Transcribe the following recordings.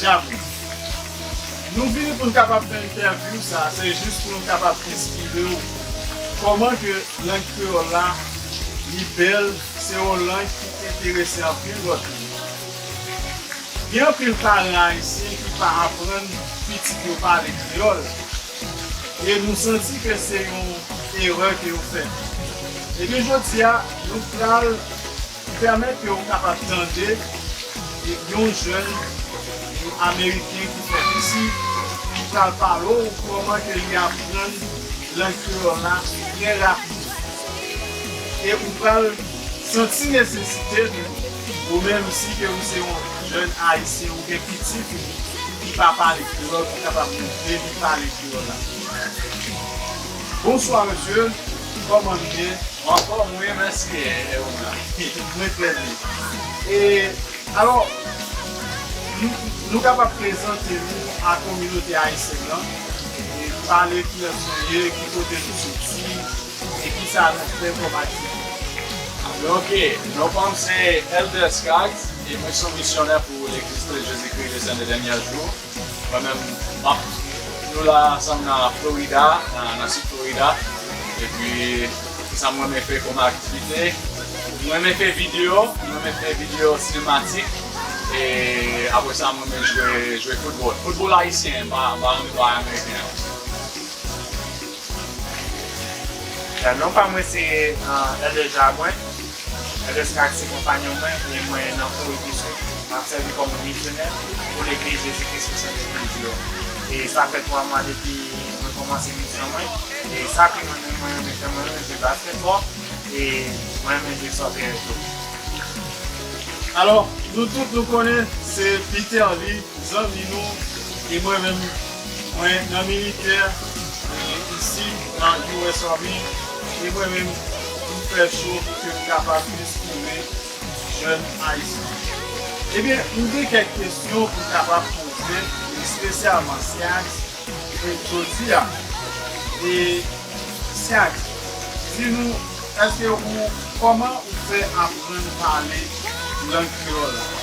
Jamm. Nou vini pou n kapab fè entèvyou sa a, se jis pou nou kapab esplike w kòman ke lang kreyòl la li bèl, se yon lang ki enterese anpil lòt moun. Gen anpil paran ayisyen ki pa aprann pitit yo pale kreyòl, e nou santi ke se yon erè ke yo fè. Ebyen jodi a, nou pral. ki pèmèt ke ou kapab tande yon jèn ameriken ki fèt isi, ki pral pale ou kòman ke li aprann lang kreyòl la trè rapid. E ou pral santi nesesite li, ou menm si ke ou se yon jèn ayisyen, ou gen pitit ou ki pa pale kreyòl, ou kapab moutre li pale kreyòl la. Bonswa mesye, kòman nou ye? Anfom wi mesi Euna mwen tre byen e alo nou kapab prezante nou a kominote ayisyen nan e pale kilès nou ye ki kote nou soti e kisa nou fè kom aktivite. Ok non fanm se Elder Scaggs e mwen son misyonè pou legliz Kris Jezikri Le Sen de Denyè Jou. Mwen menm m ap Nou la ansanm nan Florida nan sid Florida epi kisa m renmen fè kòm aktivite m renmen fè video m renmen fè video sinematik e apre sa m renmen jwe football football ayisyen m pa renmen jwe ameriken an. Non pa mwen se Elder Jacques. Ernest ak ti konpanyon mwen gen mwen nan Kore di Sid m ap sèvi kòm yon misyonè pou Legliz Jezi Kris pou Sent Espri Di yo. E sa fè 3 mwa depi mwen kòmanse misyon mwen. E sa ki mwen menm mwen renmen fè mwen renmen jwe basketball e mwen renmen jwe soccer tou. Alò nou tout nou konnen se Peter li zanmi nou e mwen menm. Mwen nan militè isi nan US Army e mwen menm m fè show pou ke m kapab enspire jèn Ayisyen. Ebyen m gen kèk kesyon pou m kapab poze espesyalman Siax jodi a e Siax di nou eske ou kòman ou fè aprann pale lang kreyòl la?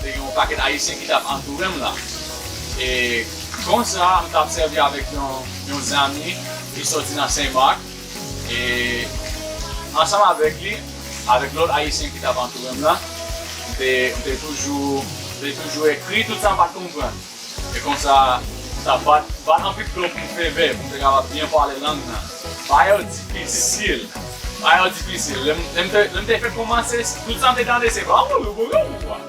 Te gen yon pakèt Ayisyen ki t ap antoure m la. E konsa, m t ap sèvi avèk yon zanmi ki soti nan Sen Mak. E ansanm avèk li, avèk lòt Ayisyen ki t ap antoure m la, m te toujou ekri tout sa m pa t konprann. E konsa, sa bat, bat anpil plon pou feve, pou te kapab byen pale lang nan. Bagay yo difisil, bagay yo difisil. Lè m te, lè m te fin koumanse, tout sa m te tande se bawoulou bouloulou kwa.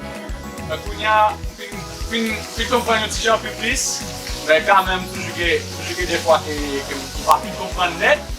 Men kounye a, m fin, m fin, m fin konprann yon ti jan pi plis, men kanmenm toujou gen, toujou gen de fwa ke, ke m pa fin konprann nèt.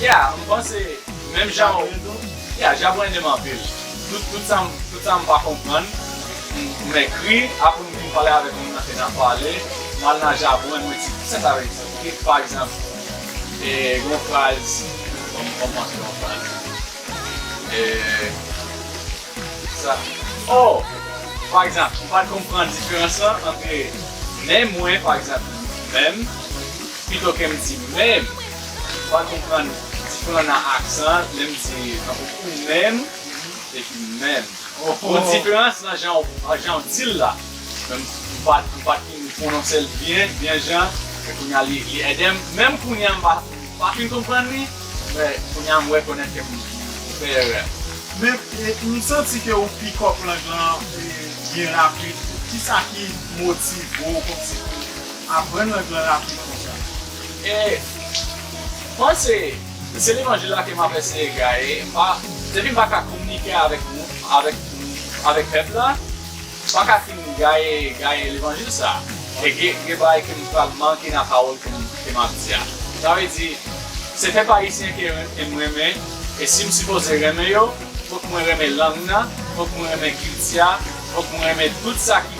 Yeah m panse menm jan ou Yeah Jabouin de m anpil Tout sa m tout sa m pa konprann m ekri apre m fin pale avèk moun nan ke n ap pale m al nan Jabouin mwen di kisa sa vle di ki pa egzanp gen yon fraz fò m fò m panse yon fraz sa oh pa egzanp m pa t konprann diferans lan antre men mwen pa egzanp menm. Pito kem di menm. Ou pa konprann diferan nan aksan an lè m di tankou ou menm epi menm. Bon diferans nan jan w jan w di l la. Men m pat m pat fin pwononse l byen byen jan e kounye a li li ede m. Menm kounye a m pa m pa fin konprann li men kounye a m rekonèt ke m fè erè. Men m santi ke ou pikòp lang lan byen rapid. Kisa ki motive w kòmsi pou Aprann règ lan rapid konsa. E Mwen se se levanjil la ke map eseye gaye mpa depi mpa ka kominike avèk moun avèk avèk pèp la mpaka fin gaye gaye levanjil sa e ge gen bagay kem pral manke nan pawòl kem ke map di a sa vle di se pèp ayisyen ke em renmen e sim sipoze renmen yo fòk mwen renmen lang nan fòk mwen renmen kilti a fòk mwen renmen tout sa ki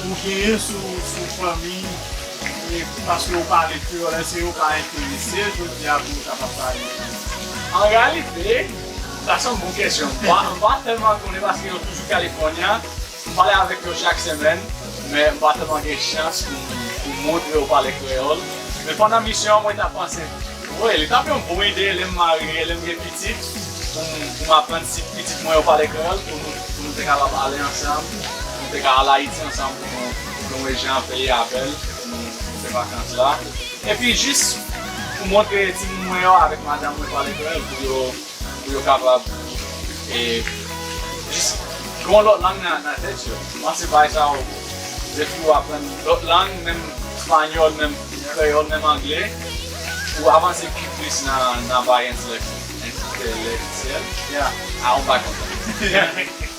Ou genyen sou fanmi e paske ou pale kreyòl èske yo pa enterese jodi a pou yo kapab pale kreyòl? An reyalite, sa se yon bon kesyon. M pa tèlman konnen paske yo toujou California. M pale avèk yo chak semèn, men m pa tèlman gen chans pou m montre yo pale kreyòl. Men pandan misyon an mwen ta panse, wi, li t ap yon bon ide lè m marye, lè m gen pitit, pou m aprann si pitit mwen yo pale kreyòl pou nou te kapab ale ansanm Nou te ka al Ayiti ansanm pou nou nou wè jan peyi a bèl pou nou fè vakans la. Epi jis pou montre timoun mwen yo avèk madanm mwen pale kreyòl pou yo pou yo kapab e jis gen yon lòt lang nan nan tèt yo. M panse bagay sa yo depi ou aprann lòt lang menm panyòl menm kreyòl menm angle ou avanse pi plis nan nan bagay entelèk entèlèktyèl ya a ou pa konprann.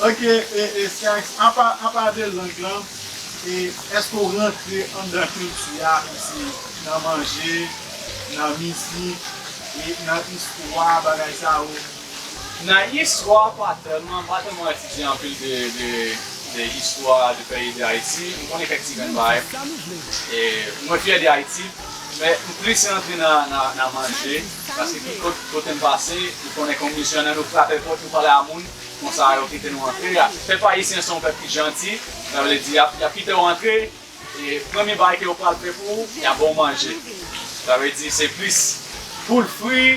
Ok Skyx apa apa de lang lan e eske ou rantre anndan kilti a osi nan manje nan mizik e nan istwa bagay sa yo? Nan istwa pa tèlman, m pa tèlman etidye anpil de istwa de peyi de Ayiti, m konnen kèk ti grenn bagay e mwen fyè de Ayiti. Men m plis rantre nan manje paske ki kote m pase ou konnen kon misyonè nou frape pòt nou pale a moun konsa yo kite nou antre pèp ayisyen se yon pèp ki janti sa vle di yap kite w antre e premye bagay ke yo pral fè pou ou yap ba w manje sa vle di se plis poul fri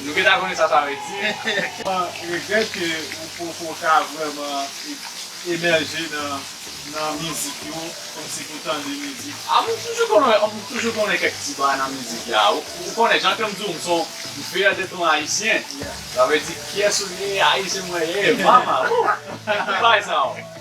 Nou gentan konnen sa sa vle di. Mwen regrèt ke ou poko ka vrèman emèje nan mizik yo kòmsi pou tande mizik. A m toujou konnen m toujou konnen kèk ti bagay nan mizik la ou konnen jan ke m di w m se yon fier de ton ayisyen sa vle di pyès ou ye ayisyen mwen ye mama wou tout bagay sa yo.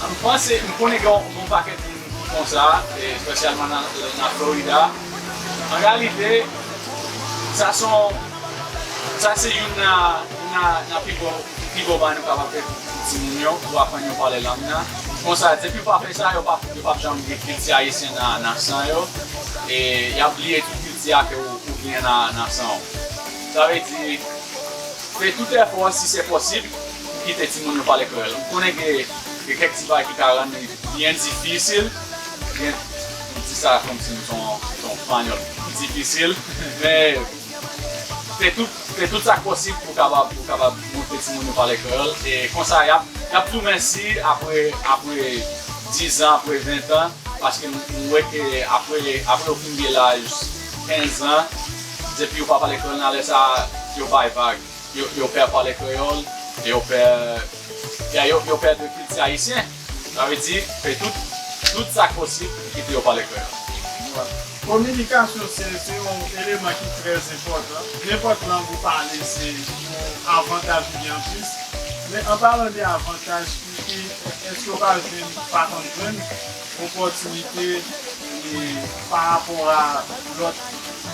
M panse, m konnen gen yon pakèt moun ki konsa, espesyalman nan Florida. An reyalite, sa se yon, sa se youn nan pi bon, pi bon bagay nou kapab fè pou timoun yo, pou aprann yo pale lang nan. Konsa, depi ou pa fè sa, yo pap janm gen kilti ayisyen nan san yo, e y ap bliye tout kilti a ke ou genyen nan san ou. Sa vle di, fè tout èfò si se posib. Kite timoun yo pale kreyòl. M konnen gen kèk ti bagay ki ka rann li byen difisil. Gen, m di sa kòmsi m son yon panyòl ki difisil. Men, fè tout, fè tout sa k posib pou w kapab, pou w kapab montre timoun yo pale kreyòl. E konsa y ap, y ap tou mèsi apre, apre dizan, apre ventan. Paske m wè ke apre, apre yo fin gen laj kenzan, depi yo pa pale kreyòl nan lè sa a, yo bay vag. Yo pè pale kreyòl e yo pè ya yo yo pè de kilti ayisyen sa vle di fè tout tout sa k posib pou kite yo pale kreyòl. Kominikasyon se se yon eleman ki trè enpòtan nenpòt lang ou pale se yon avantaj ou gen anplis men an palan de avantaj ki èske ou pa jwenn pa konn jwenn opòtinite e parapò a lòt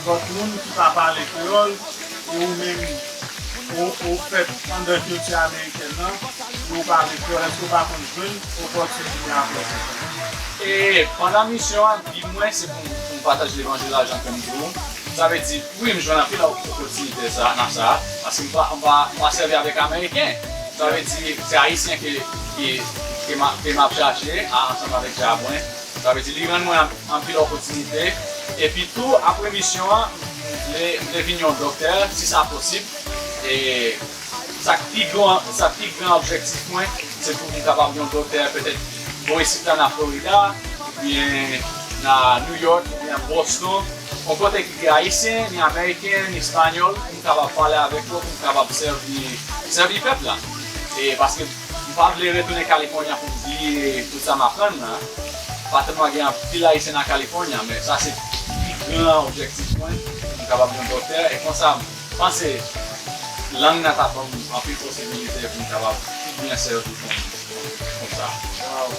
lòt moun ki pa pale kreyòl E ou menm ou fèt anndan kilti amerikèn nan e ou pale kreyòl, èske ou pa konn jwenn opòtinite pou aprann kreyòl? E pandan misyon an, bi mwen se pou m pataje levanjil la jan ke m dwe. Sa vle di, wi m jwenn anpil opòtinite sa nan sa, paske m pa sèvi avèk ameriken. Sa vle di se ayisyen ke m ap chache ansanm avèk djab mwen. Sa vle di li rann mwen ak anpil opotinite epi tou apre misyon an m vle m vle vin yon doktè si sa posib e sa k pi gran sa k pi gran objektif mwen se pou m kapab yon doktè petèt bò isit la nan Florida oubyen nan New York oubyen Boston yon kote ki gen ayisyen ni ameriken ni espanyòl pou m kapab pale avèk yo pou m kapab sèvi sèvi pèp la e paske M pa vle retounen California pou m bliye tout sa m aprann nan. Patrn mwen gen anpil Ayisyen nan California men sa se pi gran objektif mwen pou m kapab yon doktè e konsa m panse lang nan t ap ban m anpil posibilite pou m kapab pi byen sèvi pou m konsa. Waw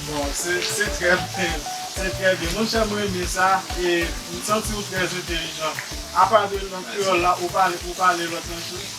bon se se trè byen se trè byen monchè m renmen sa e m santi ou trè entelijan apa de lang kreyòl la ou pale ou pale lòt lang tou?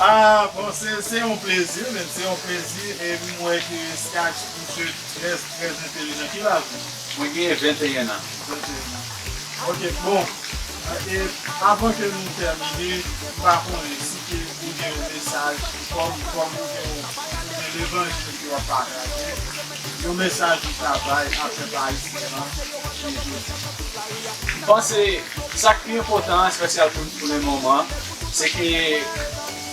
Aah bon se se yon plezi menn se yon plezi e m wè ke Skach ou se tres tres entelijan ki laj ou? Mwen genyen 21 an. 21 an ok bon e avan ke nou tèmine m pa konnen si ke ou gen yon mesaj kòm kòm ou gen yon ou gen levanjil ke w ap pataje yon mesaj ou ta bay apre Paris Milan e jodi. M panse sa k pi enpòtan espesyal pou pou le moman. Se ke,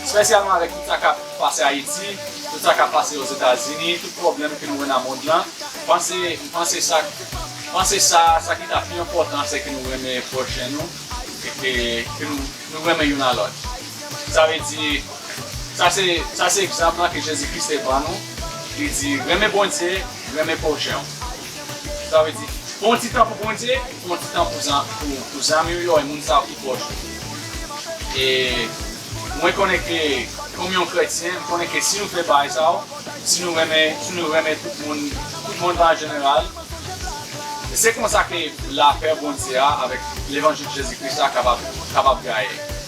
spesyalman avèk tout sa kap pase Ayiti, tout sa kap pase Ozetazini, tout pwoblèm ke nou wè nan mond lan, m panse, m panse sa, m panse sa, sa ki ta pi enpòtan se ke nou renmen pwochen nou e ke, ke nou, nou renmen youn a lòt. Sa vle di, sa se, sa se egzanp lan ke Jezi Kris te ban nou, li di, renmen Bondye, renmen pwochen w. Sa vle di, pran yon ti tan pou Bondye, pran yon ti tan pou zan, pou zanmi w yo e moun sa yo ki pwòch ou. E mwen konnen ke kòm yon kretyen, m konnen ke si nou fè bagay sa yo, si nou renmen, si nou renmen tout moun, tout mond lan an jeneral, se konsa ke lapè Bondye a avèk levanjil Jezi Kris la kapab, kapab gaye.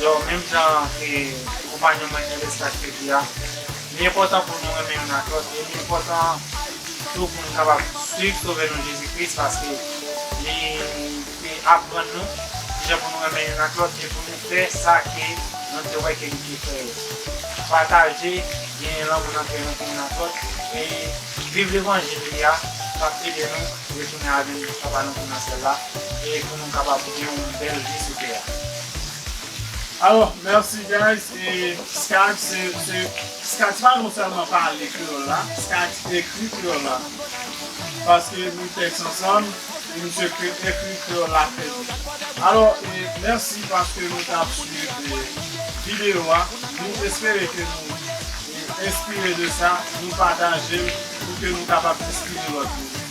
Yo, menm jan e konpanyon mwen Ernest ta te di a, li enpòtan pou nou renmen youn ak lòt e li enpòtan tou pou nou kapab suiv Sovè nou Jezi Kris paske li te aprann nou kijan pou nou renmen youn ak lòt e pou nou fè sa ke nou te wè ke li te fè yo. Pataje, genyen lanmou nan kè nou pou youn ak lòt e viv levanjil li a k ap ede nou retounen al jwenn Papa nou ki nan Syèl la e pou nou kapab gen yon bèl vi sou tè a. Alò merci guys e Skype se se Skype se pa non sèlman pale kreyòl la Skype se ekri kreyòl la paske nou tèks ansanm e misye kre ekri kreyòl la trè byen alò e mèsi paske nou tap swiv e videyo a nou espere ke nou e enspire de sa nou patajel pou ke nou kapab enspire lòt moun.